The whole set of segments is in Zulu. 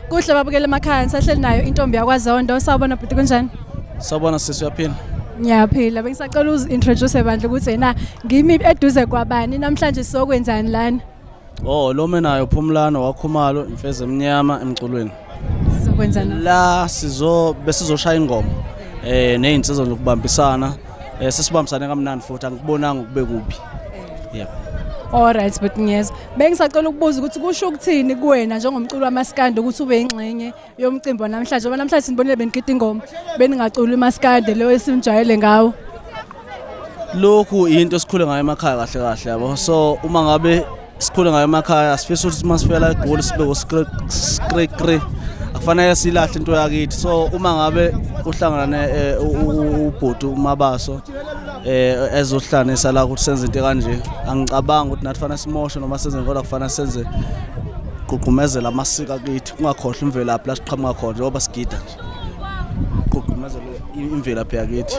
Kuhle babukele emakhaya ngisahleli nayo intombi yakwaZondo sawubona bhuti kunjani? Sawubona sisi uyaphila. Ngiyaphila bengisacela uzi introduce bandla ukuthi yena ngimi eduze kwabani namhlanje sizokwenzani lana? Oh lo menayo Phumlano wakhumalo imfeze emnyama emculweni. Sizokwenzani? La sizo besizoshaya ingoma eh nezinsizwa zokubambisana um sesibambisane kamnandi futhi angikubonanga ukube kubi yebo Alright but ngiyezwa. Bengisacela ukubuza ukuthi kusho ukuthini kuwena njengomculi wamaskande ukuthi ube ingxenye yomcimbi namhlanje ngoba namhlanje sinibonile benigida ingoma beningaculi umaskande leyo esimjayele ngawo. Lokhu into esikhule ngayo emakhaya kahle kahle yabo. So uma ngabe sikhule ngayo emakhaya asifisa ukuthi uma sifela egoli sibe uskrekre akufanele silahle into yakithi so uma ngabe uhlangana eh, ubhuti umabaso eh ezohlanisa la ukuthi senze into kanje angicabanga ukuthi nathi fanele simoshe noma senze kodwa kufanele senze gqugqumezela amasiko akithi kungakhohlwa imvelaphi la siqhamuka khona njengoba sigida nje gqugqumezela imvelaphi yakithi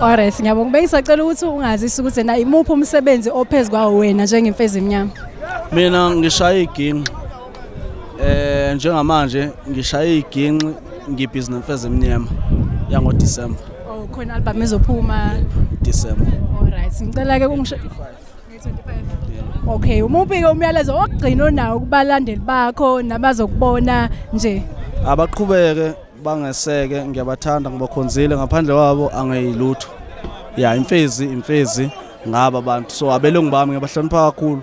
Alright, ngiyabonga. Bengisacela ukuthi ungazisa ukuthi na imuphi umsebenzi ophezulu kwawo wena njengemfezi emnyama. Mina ngishaya iginqi. Eh njengamanje ngishaya iginqi ngibhizi nemfezi emnyama yango December. Oh khona album ezophuma December. Alright, ngicela ke ungisho 25. Okay, umuphi ke umyalezo ogcina onawo kubalandeli bakho nabazokubona nje? Abaqhubeke bangeseke ngiyabathanda ngibakhonzile ngaphandle kwabo angeyilutho ya imfezi imfezi ngaba abantu so abelungu bami ngiyabahlonipha kakhulu